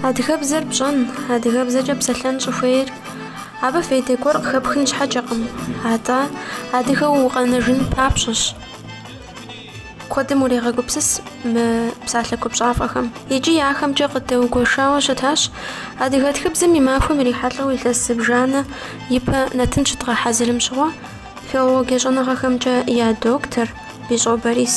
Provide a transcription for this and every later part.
Адыгэбзэр пщӏэн, адыгэбзэкӏэ псэлъэн щӏыхуейр абы фейдэ гуэр къыхэпхын щхьэкӏэкъым, атӏэ адыгэу укъэнэжын папщӏэщ. куэдым урегъэгупсыс мы псалъэ купщӏафӏэхэм. Икӏи ахэмкӏэ къыдэугуэшауэ щытащ адыгэ тхыбзэм и махуэм ирихьэлӏэу илъэс зыбжанэ ипэ нэтын щыдгъэхьэзырым щыгъуэ, филологие щӏэныгъэхэмкӏэ я доктор Бищӏо Борис.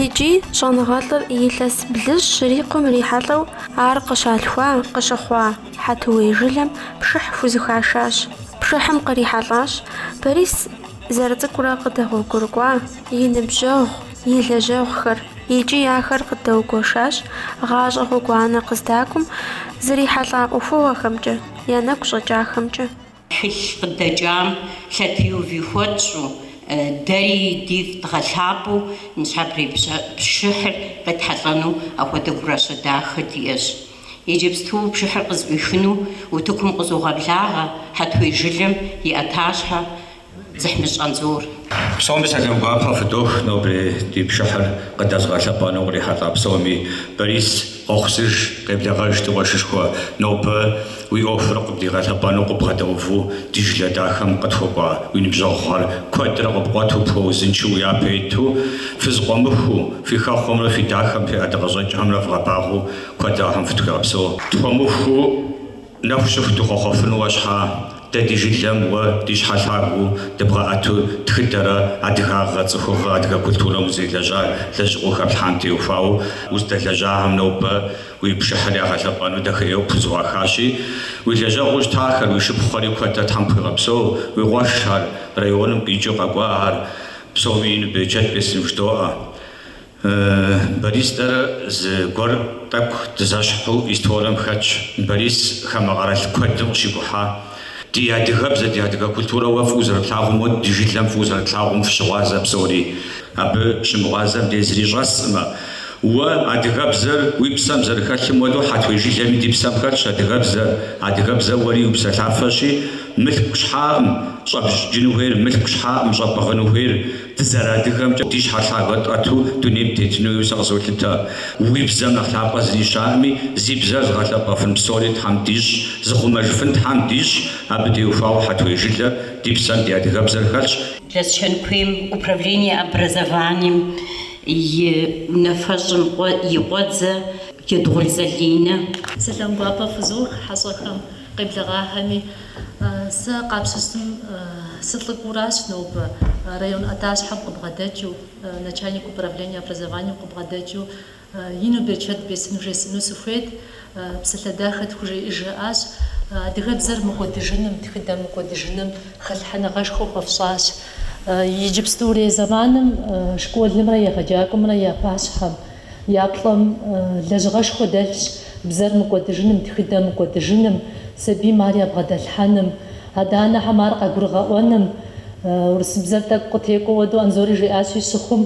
Иджы щӏэныгъэлӏыр илъэс блыщӏ щрикъум ирихьэлӏэу ар къыщалъхуа, къыщыхъуа Хьэтуей жылэм пшыхь хузыхашащ. Пшыхьым кърихьэлӏащ Борис Зэрыцӏыкӏурэ къыдэгъуэгурыкӏуа и ныбжьэгъу, и лэжьэгъухэр икӏи ахэр къыдэугуэшащ гъащӏэ гъуэгуанэ къыздакӏуэм зэрихьэлӏа ӏуэхугъуэхэмкӏэ, я нэгу щӏэкӏахэмкӏэ. Тхылъ къыдэкӏам лъэтеуви хуэтщӏу, дэри дифӏ дгъэлъапӏэу ныщхьэбэрей пшыхьыр къетхьэлӏэну апхуэдэ гуращэ дахэ диӏэщ. Иджыпсту пшыхьыр къызӏуихыну утыкум къызогъэблагъэ Хьэтуей жылэм и ӏэтащхьэ Дзыхьмыщӏ Анзор. Псоми сэлам гуапэ фыдох, нобэрей ди пшыхьыр къыддэзыгъэлъэпӏэну кърихьэлӏа псоми. Борис, къохъусыж, къеблэгъэж ди къуэшышхуэ, нобэ уи ӏуэхур къыбдигъэлъэпӏэну къыббгъэдэуву ди жылэ дахэм къытхуэкӏуа уи ныбжьэгъухэр куэдрэ къыпкъуэту пхуэузыншэу уи япэ иту, фызэкъуэмыхуу, фи хэхъуэмрэ фи дахэм фи ӏэдакъэщӏэкӏхэмрэ вгъэбагъуэу, Куэдрэ Тхьэм фытхуигъэпсэу. Тхуэмыухыу нэху щыху дыхъуэхъуэфынуэ щхьа, дэ ди жылэм уэ ди щхьэ лъагэу дыбгъэӏэту тхыдэрэ адыгагъэ, цӏыхугъэ, адыгэ культурэм узелэжьа лэжьыгъэу хэплъхьам теухуауэ уздэлэжьахэм нобэ уи пшыхьыр ягъэлъэпӏэну дахэӏейуэ пхузэӏуахащи, уи лэжьэгъуу щытахэр, уи шыпхъухэри куэдрэ Тхьэм пхуигъэпсэу, уи къуэшхэр, районым къикӏыу къэкӏуахэр, псоми ину берычэт бесын ждоӏэ. Борис дэрэ зы гуэр тӏэкӏу дызэщхьу историем хэтщ. Борис хамэ къэрал куэдым къыщикӏухьа, ди адыгэбзэ, ди адыгэ культурэ уэ фӏыуэ зэрыплъагъум, уэ ди жылэм фӏыуэ зэрыплъагъум фыщыгъуазэ псори. Абы щымыгъуазэ мыде зыри щӏэсӏымэ, уэ адыгэбзэр уи псэм зэрыхэлъым хуэдэу Хьэтуей жылэми ди псэм хэтщ адыгэбзэр. Адыгэбзэ уэри упсэлъафэщи, мылъку щхьаӏым щӏэбджыну хуейр, мылъку щхьаӏым щӏэпӏыгъыну хуейр. Дызэрыадыгэмкӏэ ди щхьэ лъагэ тӏэту дунейм тетын хуей сэ къызолъытэ. Уи бзэм нэхъ лъапӏэ зыри щыӏэкъыми, зи бзэр зыгъэлъэпӏэфын псори Тхьэм дищӏ, зыхъумэжыфын Тхьэм дищӏ, абы теухуауэ Хьэтуей жылэ ди псэм ди адыгэбзэр хэлъщ, Лэскэн куейм Управление образованием и унафэщӏым и къуэдзэ Едгъул Залинэ. Сэлам гуапэ фызох хьэщӏэхэм. Къеблэгъахэми, сэ къапщтэщтым сылӏыкӏуэу аращ нобэ, район ӏэтащхьэм къыбгъэдэкӏыу, начальник управления образованием къыбгъэдэкӏыу, ину берычэт бесыну жесӏэну сыхуейт, псалъэ дахэ тхужеӏыж жиӏащ. Адыгэбзэр мыкӏуэдыжыным, тхыдэр мыкӏуэдыжыным хэлъхьэныгъэшхуэ хуэфщӏащ. Иджыпстурей зэманым школымрэ егъэджакӏуэмрэ я пащхьэм Я плӏэм лэжьыгъэшхуэ дэлъщ бзэр мыкӏуэдыжыным, тхыдэ мыкӏуэдыжыным, сабийм ар ябгъэдэлъхьэным, адэ-анэхэм ар къагурыгъэӏуэным. Урысыбзэр тӏэкӏу къытекӏуэ хуэдэу Анзори жиӏащи, щыхъум,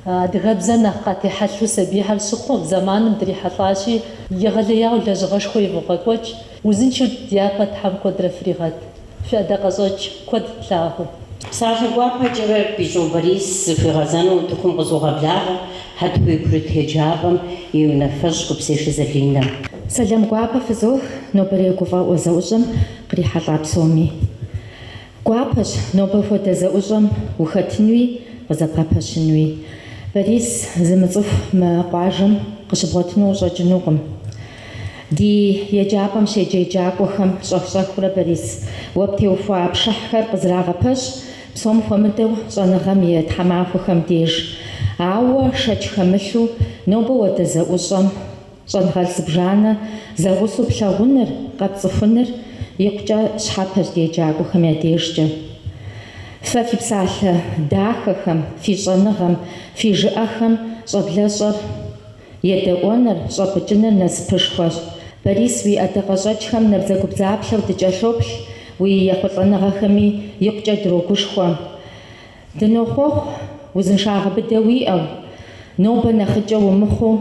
адыгэбзэр нэхъ къатехьэлъу сабийхэр щыхъу зэманым дрихьэлӏащи. Егъэлеяуэ лэжьыгъэшхуэ ивогъэкӏуэкӏ, узыншэу дяпэ Тхьэм куэдрэ фригъэт. Фи ӏэдакъэщӏэкӏ куэд тлъагъуу. Псалъэ гуапэкӏэрэ Бищӏо Борис зыхуигъэзэну утыкум къызогъэблагъэ Хьэтуей курыт еджапӏэм и унафэщӏ Гупсешэ Залинэ. Сэлам гуапэ фызох нобэрей гуфӏэгъуэ зэӏущӏэм кърихьэлӏа псоми. Гуапэщ нобэ хуэдэ зэӏущӏэм ухэтынуи къызэбгъэпэщынуи. Борис зымыцӏыху мы къуажэм къыщыбгъуэтыну къыщӏэкӏынукъым. Ди еджапӏэм щеджэ еджакӏуэхэм щӏэх-щӏэхыурэ Борис, уэ птеухуа пшыхьхэр къызэрагъэпэщ, псом хуэмыдэу щӏэныгъэм и тхьэмахуэхэм деж. Ауэ шэч хэмылъу, нобэ хуэдэ зэӏущӏэм щӏэныгъэлӏ зыбжанэ зэгъусэу плъагъуныр, къэпцӏыхуныр икъукӏэ щхьэпэщ ди еджакӏуэхэм я дежкӏэ. Фэ фи псалъэ дахэхэм, фи щӏэныгъэм, фи жыӏэхэм щӏэблэщӏэр. Едэӏуэныр, щӏэпӏыкӏыныр насыпышхуэщ. Борис, уи ӏэдакъэщӏэкӏхэм набдзэгубдзаплъэу дыкӏэлъоплъ, уи ехъулӏэныгъэхэми икъукӏэ дрогушхуэ. Дынохъуэхъу узыншагъэ быдэ уиӏэу, нобэ нэхъыкӏэ умыхъуу,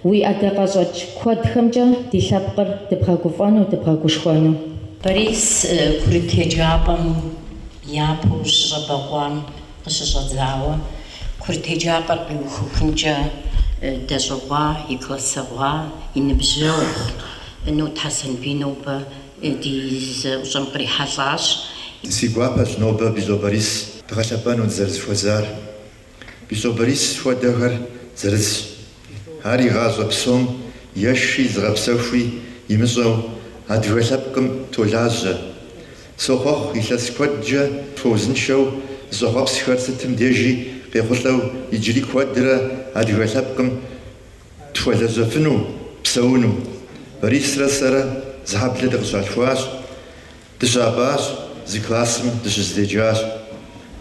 уи ӏэдакъэщӏэкӏ куэдхэмкӏэ ди лъэпкъыр дыбгъэгуфӏэну, дыбгъэгушхуэну. Борис курыт еджапӏэм япэу щыщӏэбэкъуам Къыщыщӏэдзауэ курыт еджапӏэр къиухыхункӏэ дэщӏыгъуа и классэгъуа и ныбжьэгъу Нот Хьэсэнбий нобэ ди зэӏущӏэм кърихьэлӏащ. Си гуапэщ нобэ Бищӏо Борис дгъэлъэпӏэну дызэрызэхуэзар. Бищӏо Борис хуэдэхэр зырызщ. Ар и гъащӏэ псом еши зыгъэпсэхуи имыщӏэу адыгэ лъэпкъым толажьэ. Сохъуэхъу илъэс куэдкӏэ тхуэузыншэу зыщӏэхъуэпсхэр сытым дежи къехъулӏэу иджыри куэдрэ адыгэ лъэпкъым тхуэлэжьэфыну, псэуну. Борисрэ сэрэ зы хьэблэ дыкъыщалъхуащ. Дыщапӏащ, зы классым дыщызэдеджащ.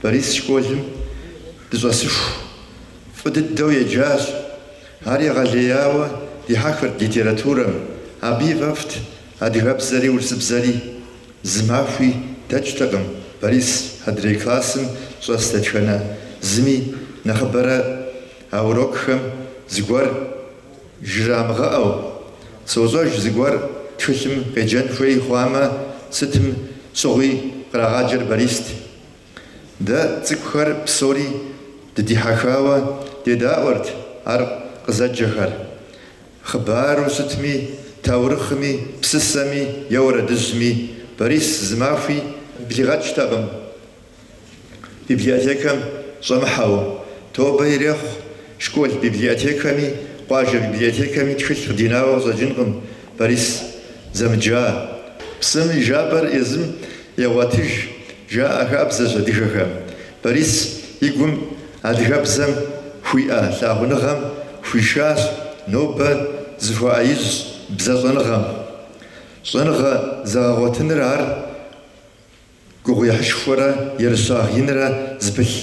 Борис школым дыщӏэсыху фӏы дыдэу еджащ. Ар егъэлеяуэ дихьэхырт литературэм, абы и фӏэфӏт адыгэбзэри урысыбзэри. Зы махуи дэкӏтэкъым Борис адрей классым щӏэс дэтхэнэ зыми, нэхъыбэрэ а урокхэм зыгуэр. Жрамыгъэӏэу, сощӏэж зыгуэр тхылъым къеджэн хуей хъуамэ, сытым щыгъуи кърагъаджэр Барист. Дэ цӏыкӏухэр псори дыдихьэхауэ дедаӏуэрт ар къызэджэхэр. Хъыбару щытми, таурыхъми, псысэми е уэрэдыжьми, Барис зы махуи блигъэкӏтэкъым. Библиотекэм щӏэмыхьэу тобэ ирехъу школ библиотекэми, къуажэ библиотекэми тхылъ къыдинауэ къыщӏэкӏынкъым Борис зэмыджа. Псым и жапӏэр езым егъуэтыж, жаӏэ хабзэщ адыгэхэм. Борис и гум адыгэбзэм хуиӏэ лъагъуныгъэм хуишащ нобэ зыхуэӏэижь бзэ щӏэныгъэм. Щӏэныгъэ зэгъэгъуэтыныр ар. Гугъуехьышхуэрэ ерыщагъ инрэ зыпылъ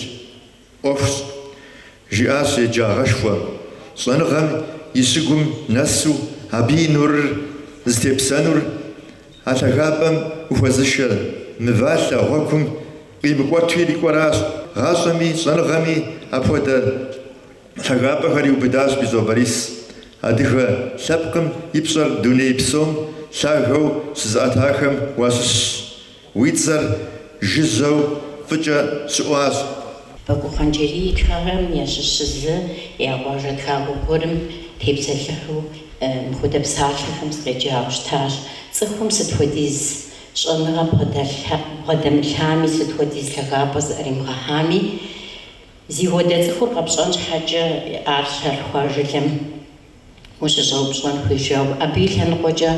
ӏуэхущ, жиӏащ еджагъэшхуэ щӏэныгъэм и щыгум нэсу абы и нурыр зытепсэнур, а лъагапӏэм ухуэзышэ мывалъэ гъуэгум къимыкӏуэту ирикӏуэращ, гъащӏэми щӏэныгъэми апхуэдэ. Лъагапӏэхэр иубыдащ Бищӏо Борис. Адыгэ лъэпкъым и пщӏэр дуней псом лъагэу щызыӏэтахэм уащыщщ. Уи цӏэр жыжьэу фӏыкӏэ щыӏуащ. Бакуу Хъанджэрий и тхыгъэм ящыщ зы я къуажэ тхакӏуэ гуэрым тепсэлъыхьу мыпхуэдэ псалъэхэм сыкъеджауэ щытащ. Цӏыхум сыт хуэдиз щӏэныгъэ бгъэдэмылъами, сыт хуэдиз лъагапӏэ зыӏэримыгъэхьами, Зыхуэдэ цӏыхур къэпщӏэн щхьэкӏэ ар щалъхуа жылэм ущыщӏэупщӏэн хуейщ жиӏэу, абы и лъэныкъуэкӏэ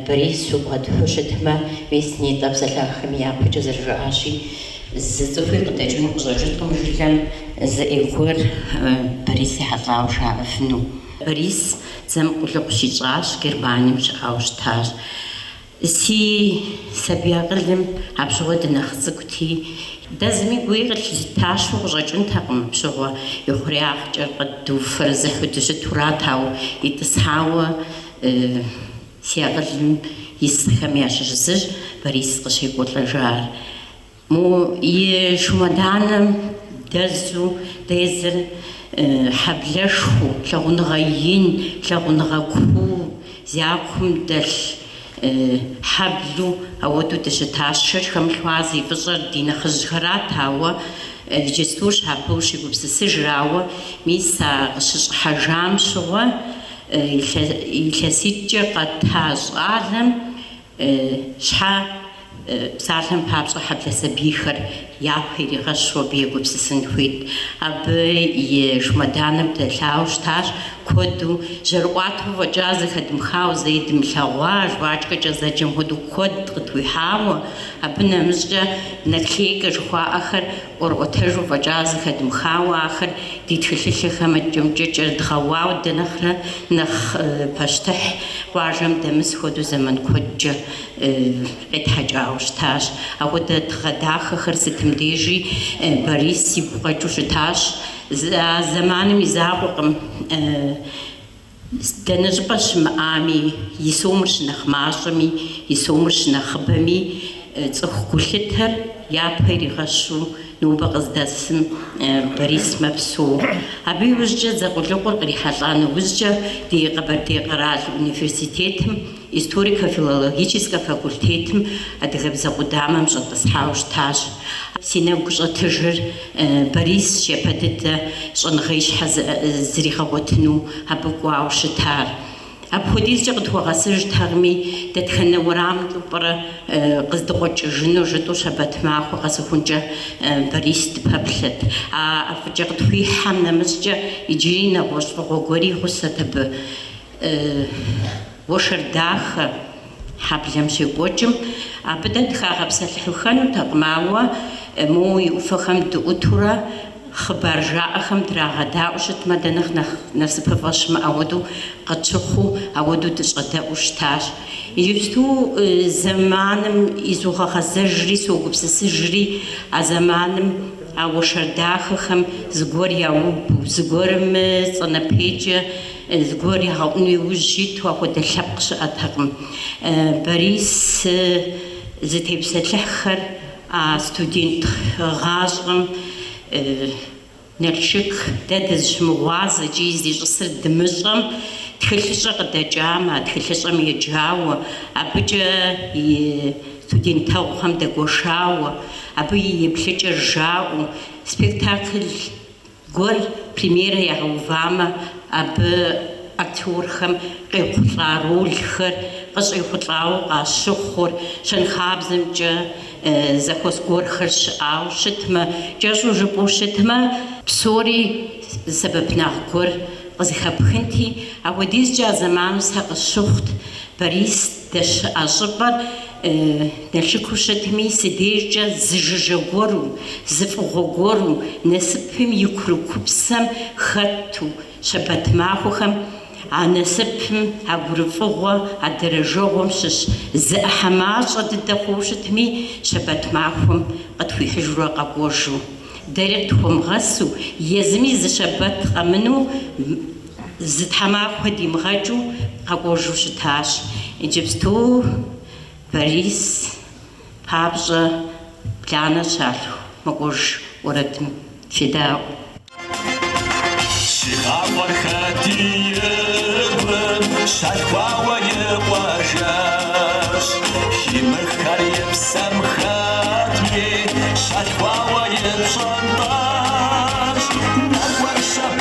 Борис укъуэдыхьу щытмэ, мис нетӏэ псэлъахэми япэкӏэ зэрыжаӏащи, зы цӏыхуи къыдэкӏыну къыщӏэкӏыркъым жылэм зы ӏей гуэр Борис ехьэлӏауэ жаӏэфыну. Борис дзэм къулыкъу щищӏащ, Германием щыӏауэ щытащ. Си сабий акъылым апщыгъуэ дынэхъ цӏыкӏути, дэ зыми гуи къытлъитащэу къыщӏэкӏынтэкъым, апщыгъуэ ихъуреягъкӏэр къэдуфэрэзыхьу дыщытурат, ауэ итӏысхьауэ си акъылым исхэм ящыщ зыщ Борис къыщекӏуэлӏэжар. Мо и шумэданэм дэзу дызэрыхьэблэшхуэу, лъагъуныгъэ ин, лъагъуныгъэ куу зякум дэлъ хьэблэу ауэдэу дыщытащ. Шэч хэмылъу ар зи фӏыщӏэр ди нэхъыжьхэрат, ауэ иджыпстущ абы ущегупсысыжыр. Ауэ мис а къыщыщӏыхьэжам щыгъуэ илъэситӏкӏэ къэта щӏалэм, Щхьэ псалъэм папщӏэ хьэблэ сабийхэр япэ иригъэщу абы егупсысын хуейт? Абы и шумэданэм дэлъауэ щытащ, куэду жьэрыӏуатэу фӏэкӏа, зэхэдмыхауэ, зэи дымылъэгъуа жвачкэкӏэ зэджэм хуэдэу куэд къытхуихьауэ, абы нэмыщӏкӏэ наклейкэ жыхуаӏэхэр ӏуэрыӏуэтэжу фӏэкӏа зэхэдмыхауэ ахэр ди тхылъылъэхэм икӏэмкӏэ кӏэрыдгъэуауэ дэ нэхърэ нэхъ пащтыхь къуажэм дэмыс хуэдэу зэман куэдкӏэ къетхьэкӏауэ щытащ. Апхуэдэ тыгъэ дахэхэр сытым дежи Борис игу къэкӏыу щытащ. А зэманым и закъуэкъым Дэнэ щӏыпӏэ щымыӏами, и сомыр щынэхъ мащӏэми, и сомыр щынэхъыбэми, цӏыху гулъытэр япэ иригъэщу нобэ къыздэсым Борис мэпсэу. Абы иужькӏэ дзэ къулыкъур кърихьэлӏа нэужькӏэ ди Къэбэрдей къэрал университетым Историко-филологическэ факультетым адыгэбзэ къудамэм щӏэтӏысхьауэ щытащ. Си нэгу щӏэтыжыр Борис япэ дыдэ щӏэныгъэ ищхьэ зригъэгъуэтыну абы кӏуауэ щытар. Апхуэдизкӏэ къытхуэгъэсыжтэкъыми, дэтхэнэ уэрамкӏэу пӏэрэ къыздыкъуэкӏыжыну жытӏэу щэбэт махуэ къэсыхункӏэ Борис дыпэплъэт. А ӏэфӏыкӏэ къытхуихьэм нэмыщӏкӏэ иджыри нэгъуэщӏ фӏыгъуэ гуэри гъусэт абы. Уэршэр дахэ хьэблэм щекӏуэкӏым, абы дэ дыхагъэпсэлъыхьыххэнутэкъым, ауэ моуэ и ӏуфэхэм дыӏутурэ хъыбар жаӏэхэм драгъэдаӏуэу щытмэ, дэ нэхъ нэхъ насыпыфӏэ щымыӏэ, ауэдэу къытщыхъуу, ауэдэу дыщӏэдэӏуу щытащ. Иджыпсту зэманым изогъэгъэзэжри, согупсысыжри а зэманым а уэршэр дахэхэм зыгуэр яубу, зыгуэрым и цӏэ нэпейкӏэ Зыгуэр ягъэӏуну иужь иту апхуэдэ лъэпкъ щыӏэтэкъым. Борис зытепсэлъыхьхэр а студент гъащӏэм Налшык дэ дызыщымыгъуазэ икӏи зищӏысыр дымыщӏэм, тхылъыщӏэ къыдэкӏамэ, а тхылъыщӏэм еджауэ, абыкӏэ и студентэгъухэм дэгуэшауэ, абы и еплъыкӏэр жаӏэу, спектакль Гуэр премьерэ ягъэувамэ, абы актерхэм къехъулӏа ролхэр къыщӏехъулӏауэ къащыхъур, щэнхабзэмкӏэ зэхуэс гуэрхэр щыӏауэ щытмэ, кӏэщӏу жыпӏэу щытмэ, псори зы сэбэпынагъ гуэр къызыхэпхынти, апхуэдизкӏэ а зэманым сэ къысщыхъут, Борис. Дэщыӏэ щӏыпӏэр Налшыку щытми, си дежкӏэ зы жыжьэ гуэру, зы фӏыгъуэ гуэру, насыпым и курыкупсэм хэту, щэбэт махуэхэм а насыпым, а гурыфӏыгъуэ, а дэрэжэгъуэм щыщ зы ӏыхьэ мащӏэ дыдэ хъууэ щытми, щэбэт махуэм къытхуихьыжурэ къэкӏуэжу, дэри къытхуэмыгъэсу, езыми зы щэбэт къэмыну, Зы тхьэмахуэ димыгъэкӏыу къэкӏуэжу щытащ. Иджыпсту Борис папщӏэ бланэ щалъху мэкӏуэж уэрэдым федаӏуэ. Щигъакъуэр хэтиыкъым, щалъхуауэ и къуажэщ. Химыххэр и псэм хэтми, щалъхуауэ и пщӏантӏэщ. Нэкӏуэр щэ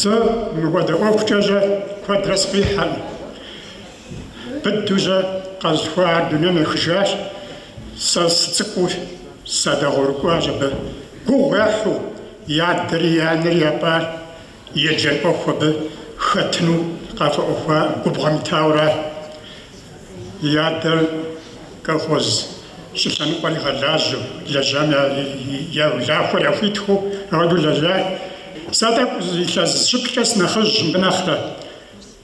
Сэ мыхуэдэ ӏуэхукӏэ жьэ куэдрэ сфӏихьэкъым. Быдыужьэ къэзыхуар дунейм ехыжащ. Сэ сыцӏыкӏуу садэгъуэгурыкӏуащ абы. Гугъу ехьу, и адэри и анэри япӏащ. Еджэн ӏуэху абы хэтыну къафӏэӏуэхуа губгъуэм итауэра? И адэр колхоз щӏы лъэныкъуэр игъэлажьэу, лэжьам я улахуэр яхуитхыу ауэдэу лэжьащ. Сэ тӏэкӏу илъэс щы-плӏыкӏэ сынэхъыжьщ мыбы нэхърэ.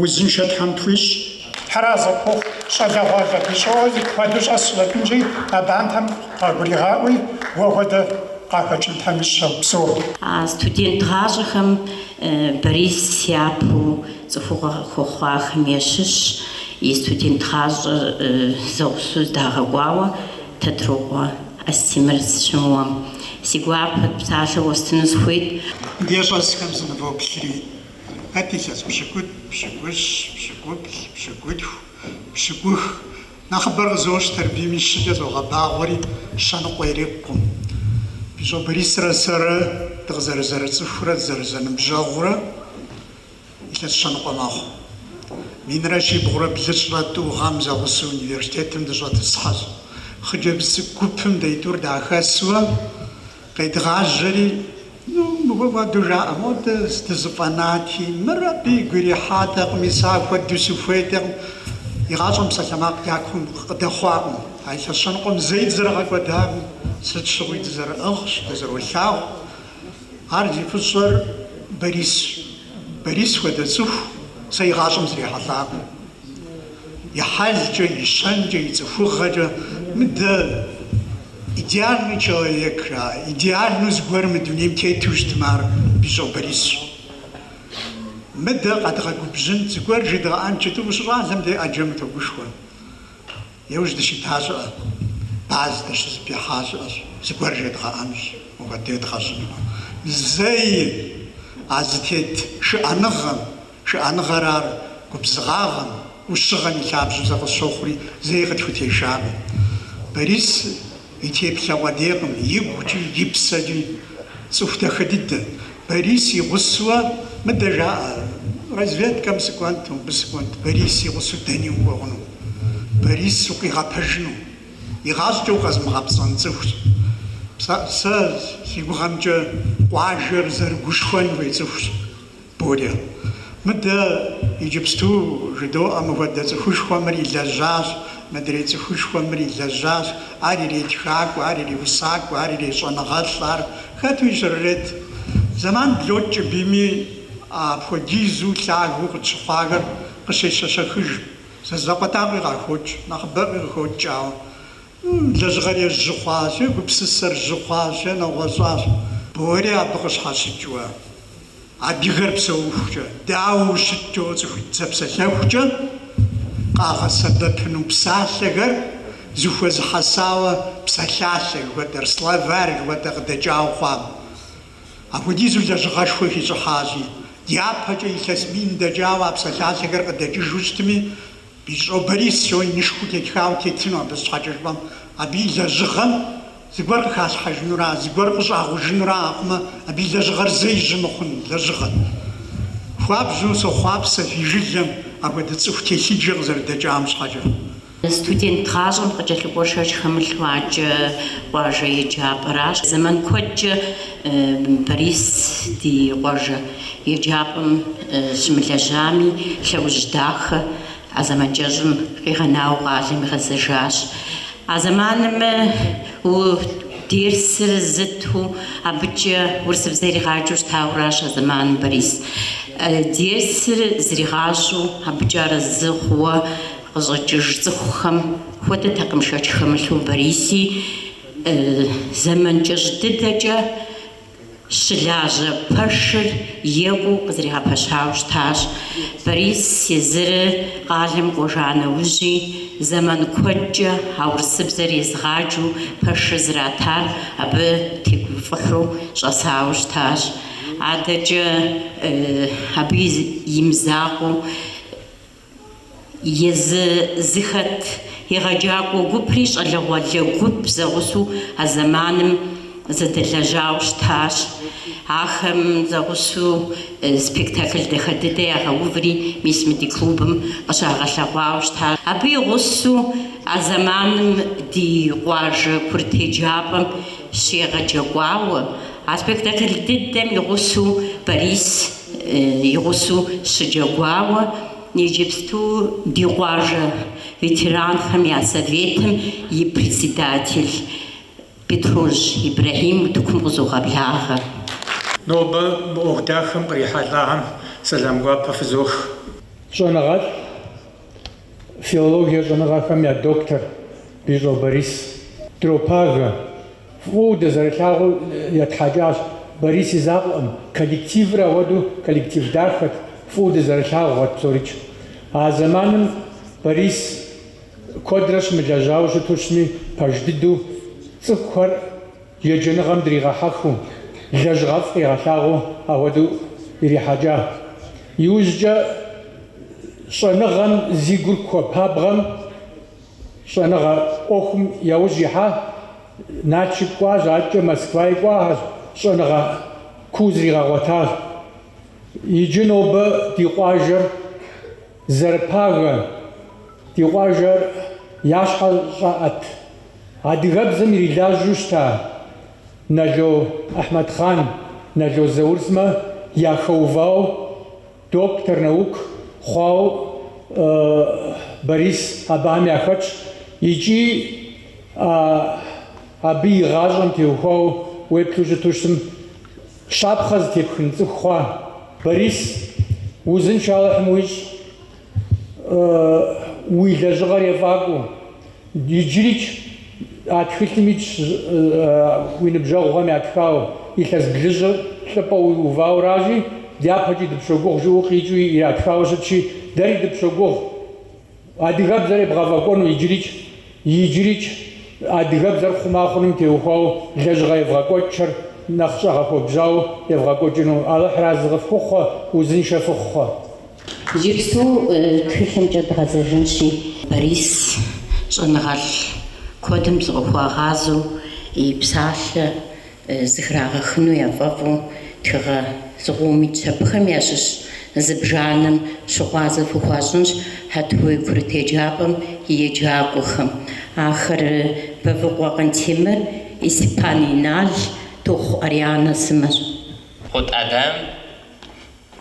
Узыншэ Тхьэм тхуищӏ. Тхьэразэ пхухъу, щӏалэгъуалэ Бищӏохэ куэду щӏэс щӏэкӏынщи, абантэм къагуригъаӏуи, уэ хуэдэ къахэкӏын Тхьэм ищӏ. Упсэу. А студент гъащӏэхэм Борис япэу цӏыхугъэ хуэхъуахэм ящыщщ, и студент гъащӏэр зэгъусэу здагъэкӏуауэ Тэтрокъуэ Астемыр сыщымыуэм. Си гуапэу псалъэ уэстыну сыхуейт. Ди щӏэсхэм сынывоплъри. Хэт илъэс пщыкӏутӏ, пщыкӏущ, пщыкӏуплӏ, пщыкӏутху, пщыкӏух? Нэхъыбэр къызощтэри абийми щыкӏэ зогъэбагъуэри щэныкъуэ ирикъукъым. Бищӏэ Борисрэ сэрэ дыкъызэрызэрыцӏыхурэ дызэрызэныбжьэгъурэ илъэс щэныкъуэ мэхъу. Минрэ щибгъурэ блыщӏрэ тӏу гъэм зэгъусэу университетым дыщӏэтӏысхьэщ. Хъыджэбз цӏыкӏу гупым деитӏур дахэсуэ. Къедгъажьэри, Ну, мыхуэду жаӏэ, модэ зэ дызэфӏэнати, мыр абы игу ирихьатэкъыми, сэ ахуэду сыхуейтэкъым. Игъащӏэм псалъэмакъ дякум къыдэхъуакъым, а илъэс щэныкъуэм зэи дызэрыгъэкӏуэдакъым, сыт щыгъуи дызэрыӏыгъщ, дызэролъагъу. Ар зи фӏыщӏэр Борисщ. Борис хуэдэ цӏыху сэ игъащӏэм срихьэлӏакъым. и хьэлкӏэ, и щэнкӏэ, и цӏыхугъэкӏэ. Мыдэ идеальный человек жаӏэ, идеальнэу зыгуэр мы дунейм тету щытмэ, ар Бищӏо Борисщ. Мыдэ къэдгъэгубжьын, зыгуэр жедгъэӏэн жытӏэу ущыщӏалэм дей ӏэджэм утогушхуэ. Иужь дыщита щыӏэ, баз дыщызыпихьа щыӏэщ, зыгуэр жедгъэӏэнщ, мыхуэдэ едгъэщӏыну. Зэи а зытет шыӏэныгъэм, Шыӏэныгъэр ар губзыгъагъэм, ӏущыгъэм и лъабжьэу сэ къысщохъури, зэи къытхутешакъым. Борис и теплъэ къудейкъым, игукӏи, и псэкӏи. Цӏыху дахэ дыдэ. Борис и гъусэуэ мыдэ жаӏэ, разведкэм сыкӏуэнт, мыбы сыкӏуэнт. Борис и гъусэу дэни укӏуэ хъуну, Борис укъигъэпэжыну. Игъащӏэкӏэ укъэзымыгъэпцӏэн цӏыхущ. Сэ си гугъэмкӏэ къуажэр зэрыгушхуэн хуей цӏыхущ. Боря. Мыдэ иджыпсту жыдоӏэ мыхуэдэ цӏыхушхуэм мыр илэжьащ, мыдрей цӏыхушхуэм мыр илэжьащ, ар иретхакӏуэ, ар иреусакӏуэ, ар ирещӏэныгъэлӏ, ар хэту щрырет. Зэман блокӏ, абийми апхуэдизу лъагэу къытщыхъуахэр къыщещэщэхыж, зы закъуэтӏакъуи къахокӏ, нэхъыбэӏуи къыхокӏ, ауэ Лэжьыгъэр ежь жьы хъуащ, гупсысэр жьы хъуащ, нэгъуэщӏащ. Бори абы къыщхьэщыкӏыуэ, адыгэр псэухукӏэ дауэ щыткӏэу цӏыхуитӏ зэпсэлъэхукӏэ къагъэсэбэпыну псалъэхэр зыхуэзыхьэсауэ псалъалъэ жыхуэтӏэр, словарь жыхуэтӏэр къыдэкӏауэ хъуам. Апхуэдизу лэжьыгъэшхуэ хищӏыхьащи, дяпэкӏэ илъэс мин дэкӏауэ а псалъалъэхэр къыдэкӏыжу щытми, Бищӏо Борис жоуэ инышхуэу тетхауэ тетыну абы, сыт щхьэкӏэ жыпӏэм, абы и лэжьыгъэм зыгуэр къыхалъхьэжынура, зыгуэр къыщӏагъужынура ахъумэ, абы и лэжьыгъэр зэи жьы мыхъун лэжьыгъэт. Хуабжьу сохъуапсэ фи жылэм апхуэдэ цӏыху телъыджэ къызэрыдэкӏам щхьэкӏэ. Студент гъащӏэм къыкӏэлъыкӏуэр шэч хэмылъу адэкӏэ къуажэ еджапӏэращ. Зэман куэдкӏэ Борис ди къуажэ еджапӏэм щымылэжьами, лъэужь дахэ а зэман кӏэщӏым къигъэнауэ къалэм игъэзэжащ. А зэманым у дерсыр зыту абыкӏэ урысыбзэ иригъаджэу щытауращ а зэманым Борис. Дерсыр зригъащӏэу абыкӏэ арэзы хъууэ къыщӏэкӏыж цӏыхухэм хуэдэтэкъым шэч хэмылъу Бориси. Зэман кӏэщӏ дыдэкӏэ щылажьэ пэшыр екӏуу къызэригъэпэщауэ щытащ. Борис езыры къалэм кӏуэжа нэужьи, зэман куэдкӏэ а урысыбзэр езыгъаджэу пэшыр зратар абы тегуфӏыхьу щӏэсауэ щытащ. Адэкӏэ абы и мызакъуэу. Езы зыхэт егъэджакӏуэ гупри щӏалэгъуалэ гуп зэгъусэу а зэманым зэдэлэжьауэ щытащ. Ахэм зэгъусэу спектакль дахэ дыдэ ягъэуври мис мы ди клубым къыщагъэлъэгъуауэ щытащ. Абы и гъусэу а зэманым ди къуажэ курыт еджапӏэм щегъэджэкӏуауэ, а спектакль дыдэм и гъусэу Борис и гъусэу щыджэгуауэ иджыпсту ди къуажэ ветеранхэм я советым и председатель Бетрожь Ибрэхьим утыкум къызогъэблагъэ. Нобэ мы ӏуэху дахэм кърихьэлӏахэм сэлам гуапэ фызох. Щӏэныгъэлӏ филологие щӏэныгъэхэм я доктор Бищӏо Борис дропагэ. Фӏыуэ дызэрылъагъуу етхьэкӏащ. Борис и закъуэкъым. Коллективыр ауэдэу коллектив дахэт, фӏыуэ дызэрылъагъухэт псорикӏ. А зэманым Борис куэдрэ щымылэжьауэ щыту щытми, пэж дыдэу цӏыхухэр Еджэныгъэм дригъэхьэхыу, лэжьыгъэфӏ къигъэлъагъуу ахуэдэу ирихьэкӏа. Иужькӏэ щӏэныгъэм зи гур хуэпабгъэм щӏэныгъэ ӏуэхум яужь ихьа Налшык кӏуащ, адэкӏэ Москваи кӏуагъэщ, щӏэныгъэ куу зригъэгъуэтащ. Иджы нобэ ди къуажэр. Зэрыпагэ, ди къуажэр я щхьэ щӏаӏэт, адыгэбзэм ирилажьэу щыта Нало Ахьмэдхъан, Нало Заур сымэ яхэувау доктор наук хъуау Борис абыхэм яхэтщ икӏи абы и гъащӏэм теухуау уеплъу щыту щытым. Щапхъэ зытепхын цӏыху хъуа, Борис, узыншэ Алыхьым уищӏ, уи лэжьыгъэр ефӏакӏуэу. Иджырикӏ а тхылъым итщ уи ныбжьэгъухэм ятхауэ, илъэс блыщӏыр лӏыпӏэ уиувауэ аращи, дяпэкӏи дыпщогугъ, жыӏэу къикӏыу иратхауэ щытщи, дэри дыпщогугъ. Адыгэбзэр ебгъэфӏэкӏуэну иджырикӏ, иджырикӏ адыгэбзэр хъума хъуным теухуауэ лэжьыгъэ евгъэкӏуэкӏхэр нэхъ щӏэгъэхуэбжьауэ евгъэкӏуэкӏыну Алыхь разы къыфхухъуэ, узыншэ фыхъухъуэ. Иджыпсту тхылъымкӏэ дгъэзэжынщи. Борис щӏэныгъэлӏ куэдым зыкъыхуагъазэу и псалъэ зыхрагъэхыну яфӏэфӏу тхыгъэ зыкъом итщ. Абыхэм ящыщ зыбжанэм щыгъуазэ фыхуащӏынщ Хьэтуей курыт еджапӏэм и еджакӏуэхэм. Ахэр Бэвыкъуэ Къантемыр, Исипан Инал, Тохъу Арианэ сымэщ. Гъут Ӏэдэм,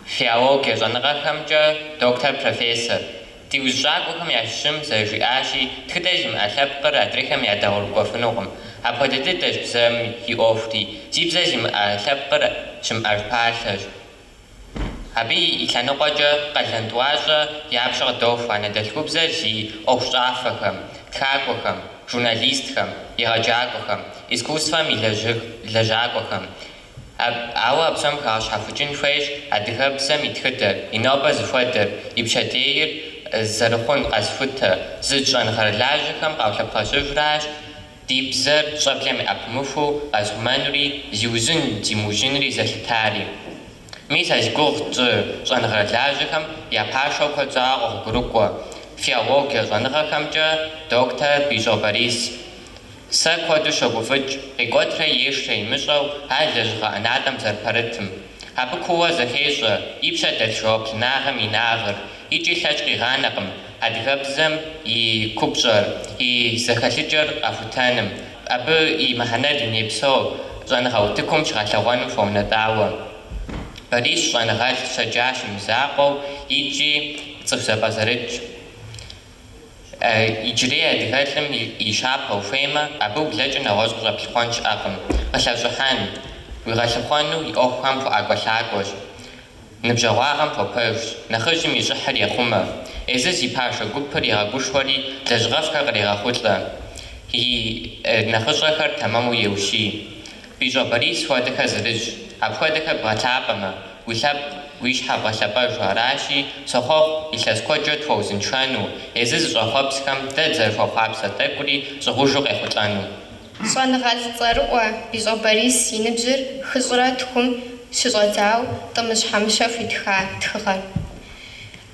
Филологие щӏэныгъэхэмкӏэ доктор, профессор. Ди узэщӏакӏуэхэм ящыщым зэрыжиӏащи, тхыдэ зимыӏэ лъэпкъыр адрейхэм ядэгъуэгурыкӏуэфынукъым. Апхуэдэ дыдэщ бзэм и ӏуэхури. Зи бзэ зимыӏэ лъэпкъыр щымыӏэж палъэщ. Абы и лъэныкъуэкӏэ къалэн тӏуащӏэ я пщэ къыдохуэ анэдэлъхубзэр зи ӏуэхущӏафэхэм, тхакӏуэхэм, журналистхэм, егъэджакӏуэхэм, искусствэм и лэжьакӏуэхэм, Ауэ а псом хэгъэщхьэхукӏын хуейщ адыгэбзэм и тхыдэр, и нобэр зыхуэдэр, и пщэдейр зэрыхъун къэзыхутэ, зыдж щӏэныгъэрылажьэхэм къаулъэпхъэщыжращ ди бзэр щӏэблэм яӏэпымыхуу къэзыхъумэнури, зиужьын, зимыужьынри зэлъытари. Мис а зи гугъу тщӏы щӏэныгъэрылажьэхэм я пашэу куэд щӏауэ къогъуэгурыкӏуэ филологие щӏэныгъэхэмкӏэ доктор Бищӏо Борис. Сэ куэду щогуфӏыкӏ, къикӏуэтрэ ешрэ имыщӏэу ар лэжьыгъэ ӏэнатӏэм зэрыпэрытым. Абы кууэ зэхещӏэ, и пщэ дэлъ жэуаплынагъэм и инагъыр, икӏи лъэкӏ къигъанэкъым адыгэбзэм и купщӏэр, и зэхэлъыкӏэр къэхутэным, абы и мыхьэнэр дунейпсо щӏэныгъэ утыкум щыгъэлъэгъуэным хуэунэтӏауэ. Борис щӏэныгъэлӏ щэджащэ и мызакъуэу икӏи цӏыху зэпӏэзэрытщ. Иджырей адыгэлӏым и щапхъэ ухуеймэ, абы ублэкӏрэ нэгъуэщӏ къыщӏэплъыхъуэн щыӏэкъым. Къылъэщӏыхьэн уигъэлъыхъуэну и ӏуэхухэм хуэӏэкӏуэлъакӏуэщ, ныбжьэгъуагъэм хуэпэжщ, нэхъыжьым и щӏыхьыр ехъумэ. Езыр зи пашэ гупыр егъэгушхуэри, лэжьыгъэфӏхэр кърегъэхъулӏэ, и нэхъыщӏэхэр тэмэму еущий. Бищӏо Борис хуэдэхэр зырызщ. Апхуэдэхэр бгъэлъапӏэмэ, уи лъэпкъ, уи щхьэ бгъэлъэпӏэжу аращи, сохъуэхъу илъэс куэдкӏэ тхуэузыншэну, езы зыщӏэхъуэпсхэм дэ дызэрыхуэхъуапсэ тӏэкӏури щӏыгъужу къехъулӏэну. Щӏэныгъэлӏ цӏэрыӏуэ Бищӏо Борис и ныбжьыр хыщӏрэ тхум щыщӏэдзауэ Тӏымыжь Хьэмыщэ хуитха тхыгъэр.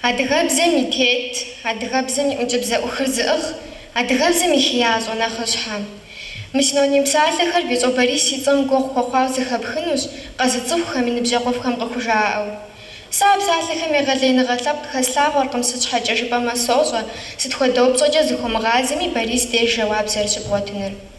Адыгэбзэм и тет, адыгэбзэм и ӏункӏыбзэӏухыр зыӏыгъ адыгэбзэм и хеящӏэ нэхъыщхьэ. Мы синоним псалъэхэр Бищӏо Борис и цӏэм гуэгъу хуэхъуауэ зэхэпхынущ къэзыцӏыхухэм и ныбжьэгъуфӏхэм къыхужаӏэу. Сэ а псалъэхэм егъэлеиныгъэ лъэпкъ хэслъагъуэркъым, сыт щхьэкӏэ жыпӏэмэ сощӏэ, сыт хуэдэ упщӏэкӏэ зыхуумыгъазэми Борис деж жэуап зэрыщыбгъуэтыныр.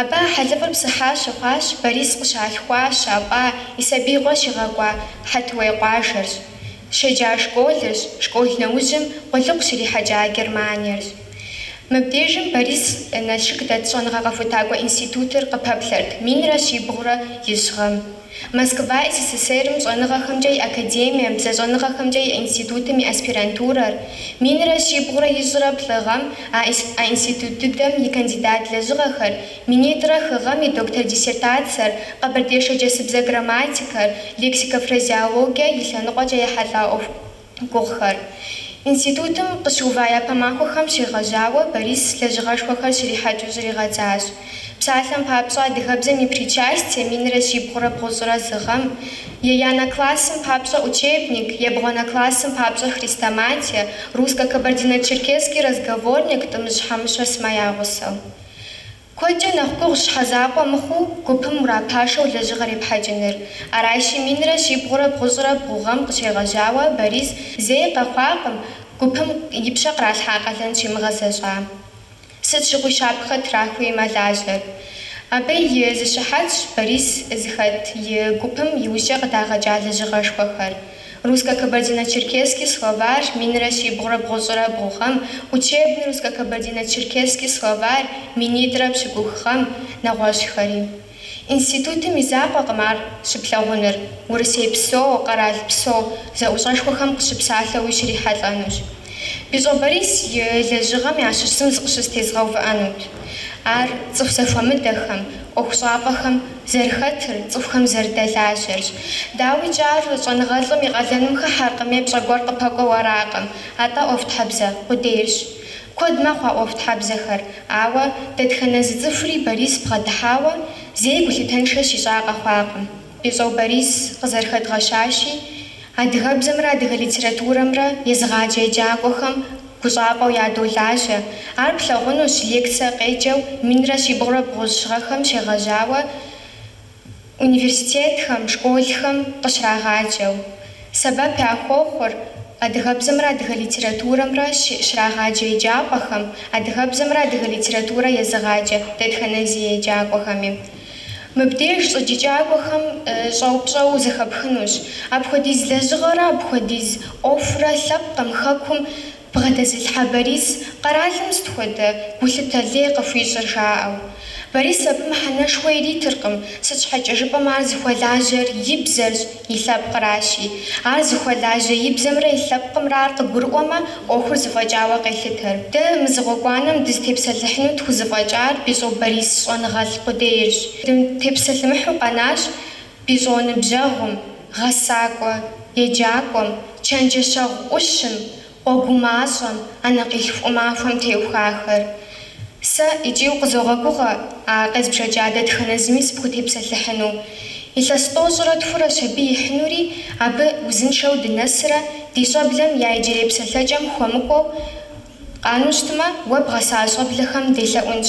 Абы а хьэлыфӏыр псыхьа щыхъуащ Борис къыщалъхуа, щапӏа, и сабиигъуэ щигъэкӏуа Хьэтуей къуажэрщ. Щеджа школырщ, школ нэужьым къулыкъу щрихьэкӏа Германиерщ. Мыбдежым Борис Налшык дэт щӏэныгъэ къэхутакӏуэ институтыр къыпэплъэрт, минрэ щибгъурэ ищӏ гъэм. Москва СССР-м щӏэныгъэхэмкӏэ и академием, бзэщӏэныгъэхэмкӏэ и институтым и аспирантурэр, минрэ щибгъурэ ищӏрэ плӏы гъэм а а институт дыдэм и кандидат лэжьыгъэхэр, минитӏрэ хы гъэм и доктор диссертациер, къэбэрдей-шэрджэсыбзэ грамматикэр, лексико-фразеологие и лъэныкъуэкӏэ ехьэлӏа ӏуэху гугъухэр. Институтым къыщыува япэ махуэхэм щегъэжьауэ Борис лэжьыгъэшхуэхэр щрихьэкӏыу щригъэдзащ. Псалъэм папщӏэ, адыгэбзэм и причастие минрэ щибгъурэ бгъущӏрэ зы гъэм, Еянэ классым папщӏэ учебник, Ебгъуанэ классым папщӏэ хрестоматие, Русско-Кабардино-Черкесский разговорник Тӏымыжь Хьэмыщэ сымэ я гъусэу. Куэдкӏэ нэхъ гугъущ щхьэ закъуэ мыхъуу гупым урапашэу лэжьыгъэр епхьэкӏыныр. Аращи, минрэ щибгъурэ бгъущӏрэ бгъу гъэм къыщегъэжьауэ Борис зэи къэхъуакъым гупым и пщэ къралъхьа къалэн щимыгъэзэщӏа. Сыт щыгъуи щапхъэ трахыуи мэлажьэр. Абы и зы щыхьэтщ Борис зыхэт и гупым иужькӏэ къыдагъэкӏа лэжьыгъэшхуэхэр. Русско-кабардино-черкесский словарь, минрэ щибгъурэ бгъущӏрэ бгъу гъэм, Учебный русско-кабардино-черкесский словарь, минитӏрэ пщыкӏух гъэм, нэгъуэщӏхэри. Институтым и закъуэкъым ар щыплъагъуныр, урысейпсо, къэралпсо зэӏущӏэшхуэхэм къыщыпсалъэуи щрихьэлӏэнущ. Бищӏо Борис и лэжьыгъэм ящыщым зыкъыщызтезгъэувыӏэнут. Ар цӏыху зэхуэмыдэхэм, ӏуэхущӏапӏэхэм зэрыхэтыр, цӏыхухэм зэрыдэлажьэрщ. Дауикӏ, ар щӏэныгъэлӏым и къалэным хыхьэркъым е пщӏэ гуэр къыпэкӏуэу аракъым, атӏэ ӏуэхутхьэбзэ къудейрщ. Куэд мэхъу а ӏуэхутхьэбзэхэр, ауэ дэтхэнэ зы цӏыхури Борис бгъэдыхьауэ зэи гулъытэншэ щищӏа къэхъуакъым. Бищӏо Борис къызэрыхэдгъэщащи, Адыгэбзэмрэ адыгэ литературэмрэ езыгъаджэ еджакӏуэхэм гущӏапӏэу ядолажьэ. Ар плъагъунущ лекцие къеджэу минрэ щибгъурэ бгъущӏ гъэхэм щегъэжьауэ университетхэм, школхэм къыщрагъаджэу. Сэбэп яхуохъур адыгэбзэмрэ адыгэ литературэмрэ щрагъаджэ еджапӏэхэм, адыгэбзэмрэ адыгэ литературэ езыгъаджэ дэтхэнэ зы еджакӏуэхэми. Мыбдеж щӏыджыкӏакӏуэхэм щӏэупщӏэу зэхэпхынущ. Апхуэдиз лэжьыгъэрэ апхуэдиз ӏуэхурэ лъэпкъым Хэкум бгъэдэзылъхьэ Борис къэралым сыт хуэдэ гулъытэ лей къыхуищӏыр жаӏэу. Борис абы мыхьэнэшхуэ иритыркъым, сыт щхьэкӏэ жыпӏэмэ ар зыхуэлажьэр и бзэрщ, И лъэпкъращи. Ар зыхуэлажьэ и бзэмрэ и лъэпкъымрэ ар къыгурыӏуэмэ, ӏуэхур зэфӏэкӏауэ къелъытэр. Дэ мы зы гъуэгуанэм дызытепсэлъыхьыну тхузэфӏэкӏар Бищӏо Борис щӏэныгъэлӏ къудейрщ. Дытепсэлъымыхьу къэнащ Бищӏо ныбжьэгъум, гъэсакӏуэ еджакӏуэм, чэнджэщэгъу ӏущым, Къуэ гумащӏэм, анэкъилъху махуэм теухахэр. Сэ икӏи укъызогъэгугъэ а къезбжэкӏа дэтхэнэ зыми сыпхутепсэлъыхьыну. Илъэс тӏощӏрэ тхурэщ абы ихьынури, абы узыншэу дынэсрэ ди щӏэблэм я иджырей псэлъэкӏэм хуэмыкӏуэу къану щытмэ, уэ бгъэса щӏэблэхэм делъэӏунщ.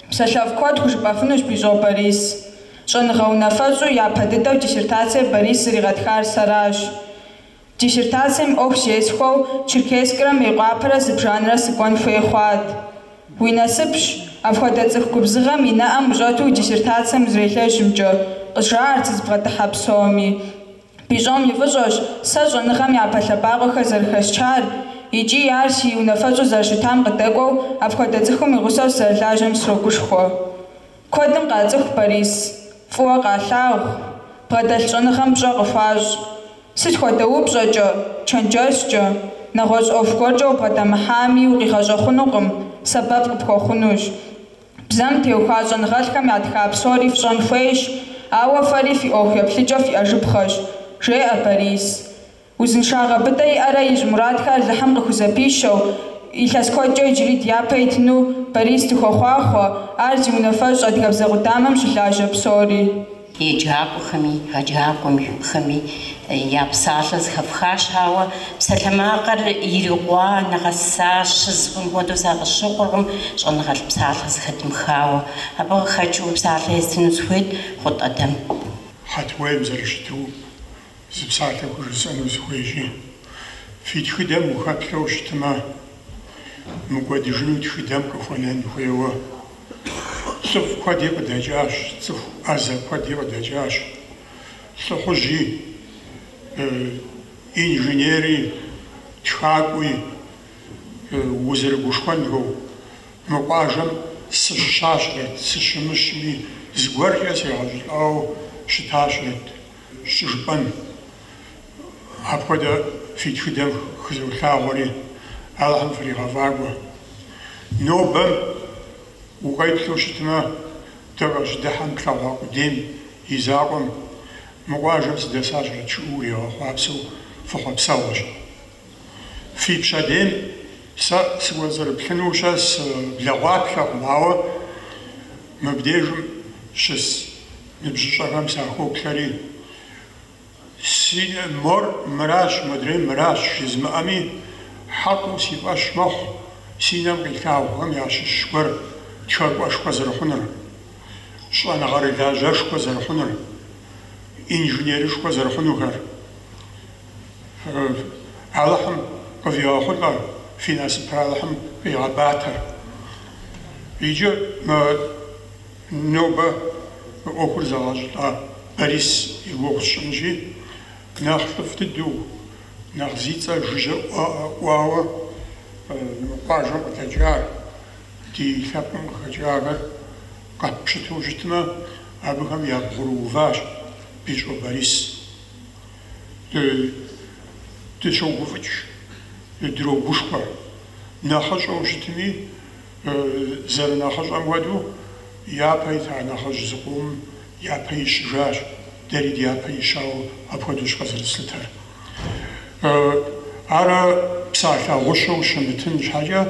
Псалъэфӏ куэд хужыпӏэфынущ Бищӏо Борис. Щӏэныгъэ унафэщӏу япэ дыдэу диссертацие Борис зригъэтхар сэращ. Диссертацием ӏуэху зесхуэу Черкесскрэ Мейкъуапэрэ зыбжанэрэ сыкӏуэн хуей хъуат. Уи насыпщ, апхуэдэ цӏыху губзыгъэм и нэӏэм ущӏэту диссертацием узэрелэжьымкӏэ, къызжаӏэрт сызыбгъэдыхьэ псоми. Бищӏом и фӏыщӏэщ сэ щӏэныгъэм япэ лъэбакъуэхэр зэрыхэсчар икӏи ар си унафэщӏу зэрыщытам къыдэкӏуэу апхуэдэ цӏыхум и гъусэу сызэрылажьэм срогушхуэ. Куэдым къацӏыху Борис, фӏыуэ къалъагъу, бгъэдэлъ щӏэныгъэм пщӏэ къыхуащӏ. Сыт хуэдэ упщӏэкӏэ, чэнджэщкӏэ, нэгъуэщӏ ӏуэху гуэркӏэ убгъэдэмыхьами, укъигъэщӏэхъунукъым, сэбэп къыпхуэхъунущ. Бзэм теухуа щӏэныгъэлӏхэм ятха псори фщӏэн хуейщ, ауэ фэри фи ӏуэху еплъыкӏэ фиӏэжыпхъэщ, жеӏэ Борис. Узыншагъэ быдэ иӏэрэ ищӏ мурадхэр Алыхьым къыхузэпищэу, илъэс куэдкӏэ иджыри дяпэ итыну Борис дыхуохъуахъуэ, ар зи унафэщӏ адыгэбзэ къудамэм щылажьэ псори. Еджакӏуэхэми, егъэджакӏуэхэми я псалъэ зэхэфхащ, ауэ псалъэмакъыр ирикъуа, нэгъэсащ жысӏэфын хуэдэу сэ къысщыхъуркъым щӏэныгъэлӏ псалъэ зэхэдмыхауэ. Абы къыхэкӏыу псалъэ естыну сыхуейт Гъут Ӏэдэм. Хьэтуейм зэрыщыту, зы псалъэ хужысӏэну сыхуейщи, фи тхыдэм ухэплъэу щытымэ, мыкӏуэдыжыну тхыдэм къыхуэнэн хуейуэ. Лӏыфӏ куэди къыдэкӏащ, цӏыху ӏэзэ куэди къыдэкӏащ. Лӏыхъужьи, инженери, тхакӏуи узэрыгушхуэнхэу. Мы къуажэм сыщыщащэрэт, сыщымыщми, зыгуэркӏэ сегъэщӏылӏауэ щытащэрэт щӏыжыпӏэн. Апхуэдэ фи тхыдэм хызолъагъури Алыхьым фригъэфӏакӏуэ. Нобэм укъеплъу щытмэ, дыкъыщыдыхьэм тлъэгъуа къудейм и закъуэм, Мы къуажэм сыдэсащэрэт жиӏэу уригъэхъуапсэу фыхъуэпсэгъуэщ. Фи пщэдейм сэ сыкӏуэцӏрыплъыну щэ сыблэгъуаплъэкъым, ауэ мыбдежым щыс ныбжьыщӏэхэм сахоплъэри, Си мор мыращ, модрей мыращ жызмыӏэми, хьэкъыу си фӏэщ мэхъу си нэм къилъагъухэм ящыщ гуэр тхакӏуэшхуэ зэрыхъунур, щӏэныгъэрылажьэшхуэ зэрыхъунур, инженерышхуэ зэрыхъунухэр. Алыхьым къывигъэхъулӏэ, фи насыпыр Алыхьым къигъэбатэ. Иджы мы. Нобэ мы ӏуэхур зэгъэщӏылӏа Борис и гугъу сщӏынщи, нэхъ лӏыфӏ дыдэу, нэхъ зи цӏэ жыжьэ ӏуауэ мы къуажэм къыдэкӏар, ди лъэпкъым къыхэкӏахэр къэппщытэу щытмэ, абыхэм ябгъурыуващ Бищӏо Борис. Дыщогуфӏыкӏ, дрогушхуэ. Нэхъыщӏэу щытми, Зэрынэхъыщӏэм хуэдэу, япэ ита нэхъыжь зыкъом япэ ищыжащ, дэри дяпэ ищауэ апхуэдэущ къызэрыслъытэр. Ар псалъэ гъущэу щымытын щхьэкӏэ,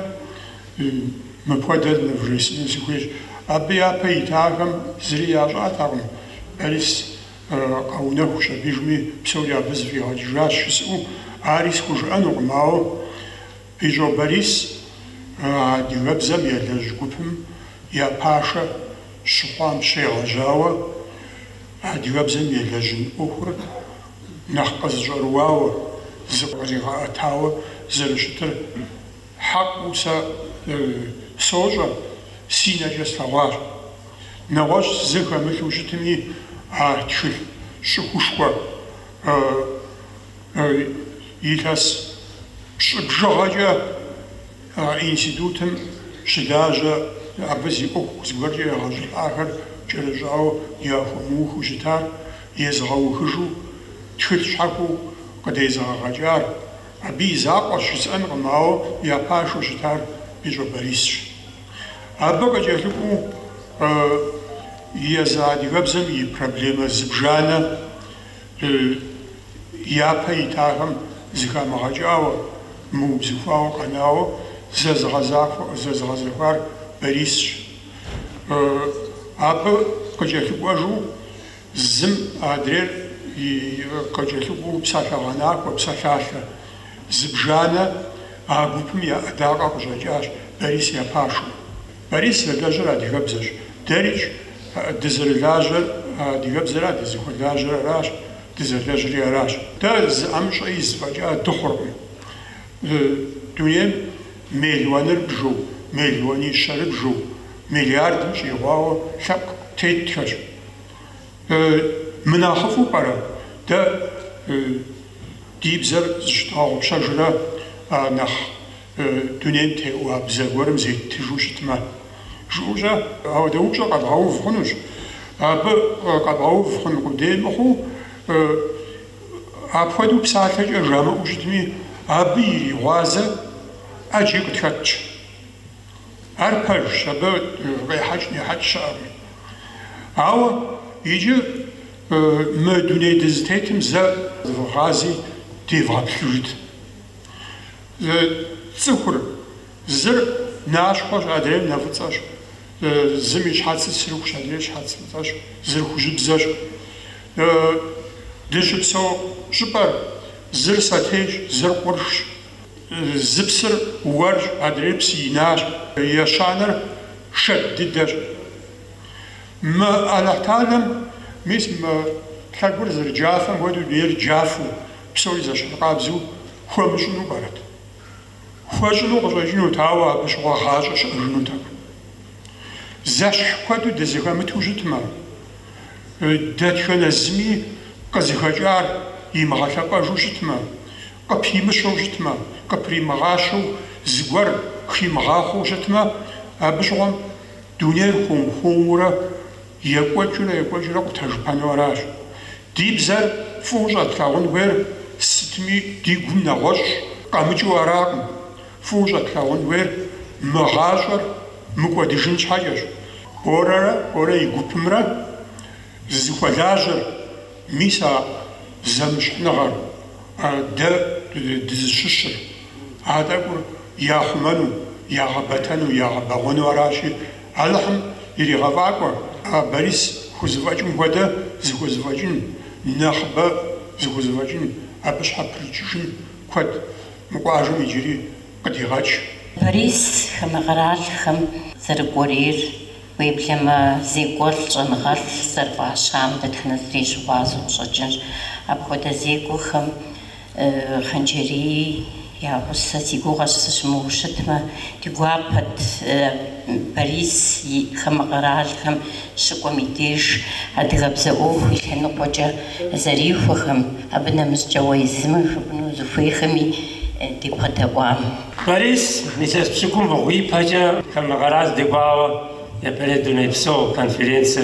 мыпхуэдэр нывжесӏэну сыхуейщ. Абы япэ итахэм зыри ящӏатэкъым, Борис къэунэхущ абыижми, псори абы зэфӏигъэкӏыжащ жысӏэу, ари схужыӏэнукъым, ауэ, Бищӏо Борис адыгэбзэм елэжь гупым я пашэ щыхъуам щегъэжьауэ, адыгэбзэм елэжьын ӏуэхур нэхъ къызыщӏэрыуауэ, зыкъригъэӏэтауэ зэрыщытыр хьэкъыу сэ сощӏэ, си нэкӏэ слъэгъуащ. Нэгъуэщӏ зы хэмылъу щытми, а тхылъ щӏыхушхуэ. Илъэс пщӏы бжыгъэкӏэ а институтым щылажьэ, абы зи ӏуэху зыгуэркӏэ егъэщӏылӏахэр кӏэрыщӏауэ яхуэмыухыу щытар, езыгъэухыжу, тхылъ щхьэхуэу къыдезыгъэгъэкӏар. Абы и закъуэщ жысӏэнкъым, ауэ я пашэу щытар Бищӏо Борисщ. Абы къыкӏэлъыкӏуэу езы адыгэбзэм и проблемэ зыбжанэ. Япэ итахэм зыхамыгъэкӏауэ, мыубзыхуауэ къэнауэ зэзыгъэзэхуар Борисщ. Абы къыкӏэлъыкӏуэжу зым адрейр къыкӏэлъыкӏуэу псалъэгъэнахуэ, псалъалъэ зыбжанэ а гупым я ӏэдакъэ къыщӏэкӏащ, Борис я пашэу. Борис зэлэжьыр адыгэбзэщ. Дэрикӏ, дызэрылажьэр адыгэбзэра, дызыхуэлажьэр аращ, дызэлэжьри аращ. Дэ зы ӏэмыщӏэ из фӏэкӏа дыхъуркъым. Дунейм миллионырыбжу, миллионищэрыбжу, миллиардым щӏигъуауэ лъэпкъ тетхэщ. Мынэхъыфӏу пӏэрэ? Дэ ди бзэр зыщыдгъэгъупщэжрэ нэхъ Дунейм теӏуа бзэ гуэрым зеттыжу щытмэ, жыӏэущӏэ, ауэдэ упщӏэ къэбгъэув хъунущ. Абы къэбгъэув хъун къудей мыхъуу, апхуэдэу псалъэкӏэ жамыӏэу щытми, абы иригъуазэ ӏэджи къытхэтщ. Ар пэжщ, абы къехьэкӏ-нехьэкӏ щыӏэкъым. Ауэ иджы мы дуней дызытетым зэ зывгъази девгъэплъыжыт. Цӏыхур, зыр нащхъуэщ, адрейр нэфӏыцӏэщ. Зым и щхьэцыр сырыхущ, адрейр щхьэц фӏыцӏэщ, зыр хужьыбзэщ. Дыщыпсэу щӏыпӏэр, зыр сэтейщ, зыр къуршщ. Зы псыр уэрщ, адрейр псы инащ. Ещанэр шэд дыдэщ. Мы Алыхьталэм, мис мы лъэгур зэрыджафэм хуэдэу, дунейр джафэу Псори зэщхьыркъабзэу хуэмыщӏыну пӏэрэт? Хуэщӏыну къыщӏэкӏынут, ауэ абы щыгъуэ гъащӏэ щыӏэжынутэкъым. Зэщхь куэду дызыхэмыту щытмэ, дэтхэнэ зыми къызыхэкӏар имыгъэлъэпӏэжу щытмэ, къыпимыщэу щытмэ, къыпримыгъащэу зыгуэр химыгъахъуэу щытмэ, абы щыгъуэм дунейр хуэм-хуэмурэ Екӏуэкӏыурэ екӏуэкӏыурэ къутэжыпэну аращ. Ди бзэр фӏыуэ щӏэтлъагъун хуейр сытми ди гум нэгъуэщӏ къэмыкӏыу аракъым. Фӏыуэ щӏэтлъагъун хуейр мы гъащӏэр мыкӏуэдыжын щхьэкӏэщ. Борэрэ Борэ и гупымрэ зыхуэлажьэр, мис а зэмыщхьныгъэр, дэ дызыщыщыр, а тӏэкӏур яхъумэну, ягъэбэтэну, ягъэбэгъуэну аращи, Алыхьым иригъэфӏакӏуэ, а Борис хузэфӏэкӏым хуэдэ зыхузэфӏэкӏын, нэхъыбэ зыхузэфӏэкӏын, абы щхьэпрыкӏыжын куэд мы къуажэм иджыри къыдигъэкӏ. Борис хамэ къэралхэм зэрыкӏуэрейр уеблэмэ, зекӏуэлӏ щӏэныгъэлӏ зэрыфӏащам дэтхэнэ зыри щыгъуазэу къыщӏэкӏынщ. Апхуэдэ зекӏуэхэм. Хъанджэрий я гъусэ си гугъэщ сыщымыуэу щытмэ, ди гуапэт Борис хамэ къэралхэм щыкӏуэм и деж адыгэбзэ ӏуэху и лъэныкъуэкӏэ зэрихуэхэм, абы нэмыщӏкӏэ уэ езым жыпӏэну узыхуейхэми дебгъэдэӏуам. Борис илъэс пщыкӏубгъу ипэкӏэ хамэ къэрал дыкӏуауэ япэрей дунейпсо конференцэ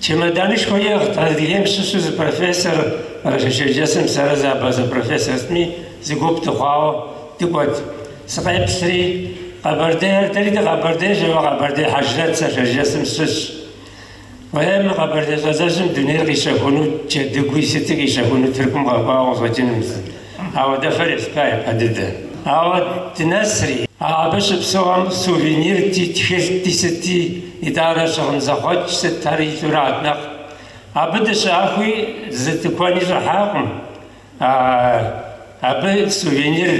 Чемоданышхуэ иӏыгът Адыгейм щыщу зы профессор Къэрэшей-Шэрджэсым сэрэ зы абазэ профессор сытми зы гуп дыхъуауэ дыкӏуэт. Сыкъеплъри, Къэбэрдейр, дэри дыкъэбэрдейщ, ауэ Къэбэрдей Хьэжрэт сэ Шэрджэсым сыщыщщ. Уей, мы Къэбэрдей щӏалэжьым дунейр къищэхуну джэдыгуи сыти къищэхуну Тыркум къэкӏуауэ къыщӏэкӏынум. Ауэдэ фэр есплъа япэ дыдэ. Ауэ дынэсри. Абы щыпсэухэм сувенирти, тхылъти, сыти, итӏанэ щыгъын зэхъуэкӏ сыт ар илъу арат нэхъ. Абы дыщыӏэхуи зы тыкуэни щӏыхьакъым. Абы сувенир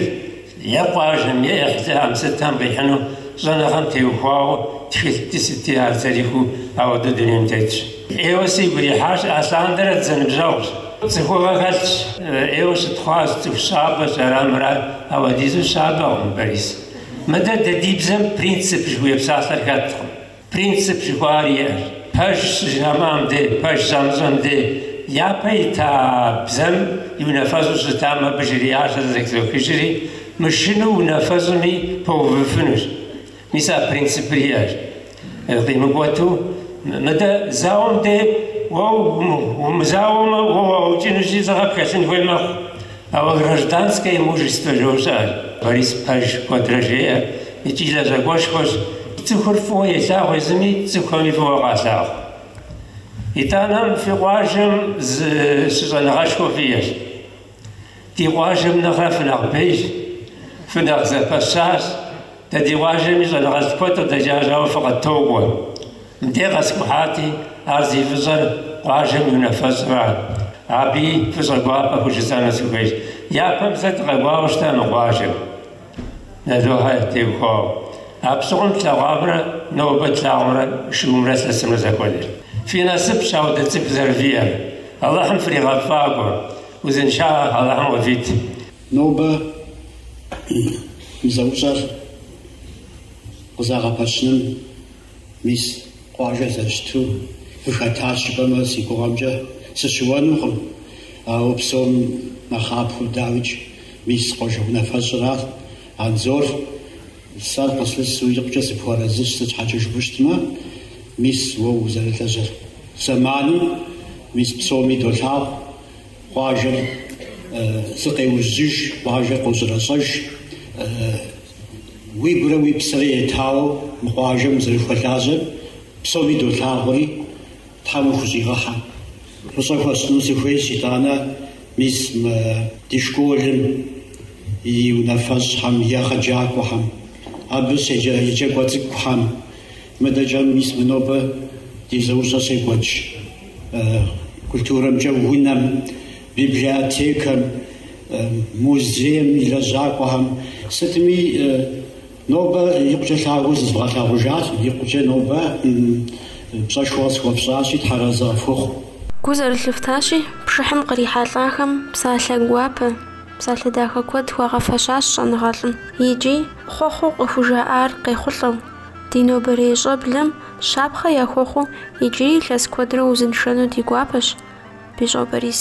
е къуажэм, е ӏыхьлыхэм сытхэм къихьыну щӏэныгъэм теухуауэ тхылъти, сыти ар зэрихьэу ауэдэу дунейм тетщ. ӏейуэ сигу ирихьащ, алъандэрэ дызэныбжьэгъущ, цӏыхугъэ хэлъщ, ӏейуэ щытхъуащ, цӏыху щабэщ, ара мурат, ауэдизу щабэкъым Борис. Мыдэ дэ ди бзэм принцип жыхуиӏэ псалъэр хэткъым. Принцип жыхуаӏэр иӏэщ. Пэж щыжамыӏэм де, пэж щамыщӏэм де, япэ ита бзэм и унафэщӏу щытам абы жриӏащ, сэ зэхызохыжри, мышынэу унафэщӏми пэувыфынущ. Мис а принципыр иӏэщ. Къимыкӏуэту, мыдэ зауэм дей уэ умызауэмэ, уэ уаукӏынущи лӏыгъэ пхэлъын хуей мэхъу. Ауэ гражданское мужество жыхужаӏэр. Борис пэж куэдрэ жеӏэ икӏи лэжьакӏуэшхуэщ. Цӏыхур фӏыуэ елъагъу езыми, цӏыхуми фӏыуэ къалъагъу. Итӏанэм фи къуажэм зы щыщӏэныгъэшхуэ фиӏэщ. Ди къуажэм нэхърэ фынэхъ бейщ, фынэхъ зэпэщащ. Дэ ди къуажэми щӏэныгъэлӏ куэд къыдэкӏащ, ауэ фыкъыттокӏуэ. Мыдей къэскӏухьати, ар зи фӏыщӏэр къуажэм и унафэщӏра? Абыи фӏыщӏэ гуапэ хужысӏэну сыхуейщ. Япэм зэ дыкъэкӏуауэ щыта мы къуажэм. Налохэ теухуауэ. Абщыгъуэм тлъэгъуамрэ нобэ тлъагъумрэ шыумрэ лъэсымрэ зэхуэдэр. Фи насыпщ апхуэдэ цӏыху зэрывиӏэр. Алыхьым фригъэфӏакӏуэ. Узыншагъэ Алыхьым къывит. Нобэ мы зэӏущӏэр къызэгъэпэщыным. Мис, къуажэр зэрыщыту къыхэтащ жыпӏэмэ, си гугъэмкӏэ сыщыуэнукъым. Ауэ псом нэхъапэу дауикӏ мис къуажэ унафэщӏыращ. Анзор, сэ къыслъысу икъукӏэ сыпхуэрэзыщ, сыт щхьэкӏэ жыпӏэу щытмэ, мис уэ узэрылажьэр зэманым мис псоми долъагъу, къуажэр зыкъеужьыж, къуажэр къощӏырэщӏэж. Уигурэ уи псэрэ етауэ мы къуажэм узэрыхуэлажьэр псоми долъагъури, Тхьэм ухущӏигъэхьэ. Фӏыщӏэ хуэсщӏыну сыхуейщ, итӏанэ, мис, мы ди школым и унафэщӏхэм, и егъэджакӏуэхэм, абы щеджэ еджакӏуэ цӏыкӏухэм, мыдэкӏэм, мис мы нобэ ди зэӏущӏэр щекӏуэкӏ культурэмкӏэ унэм. Библиотекэм, музейм и лэжьакӏуэхэм сытми нобэ икъукӏэ лъагэу зызывгъэлъагъужащ, икъукӏэ нобэ пщӏэшхуэ къысхуэфщӏащи, Тхьэразэ къыфхухъу. Гу зэрылъыфтащи, пшыхьым кърихьэлӏахэм псалъэ гуапэ, псалъэ дахэ куэд хуагъэфэщащ щӏэныгъэлӏым. Икӏи, хъуэхъуу къыхужаӏар къехъулӏэу, ди нобэрей щӏэблэм щапхъэ яхуэхъуу иджыри илъэс куэдрэ узыншэну ди гуапэщ. Бищӏо Борис.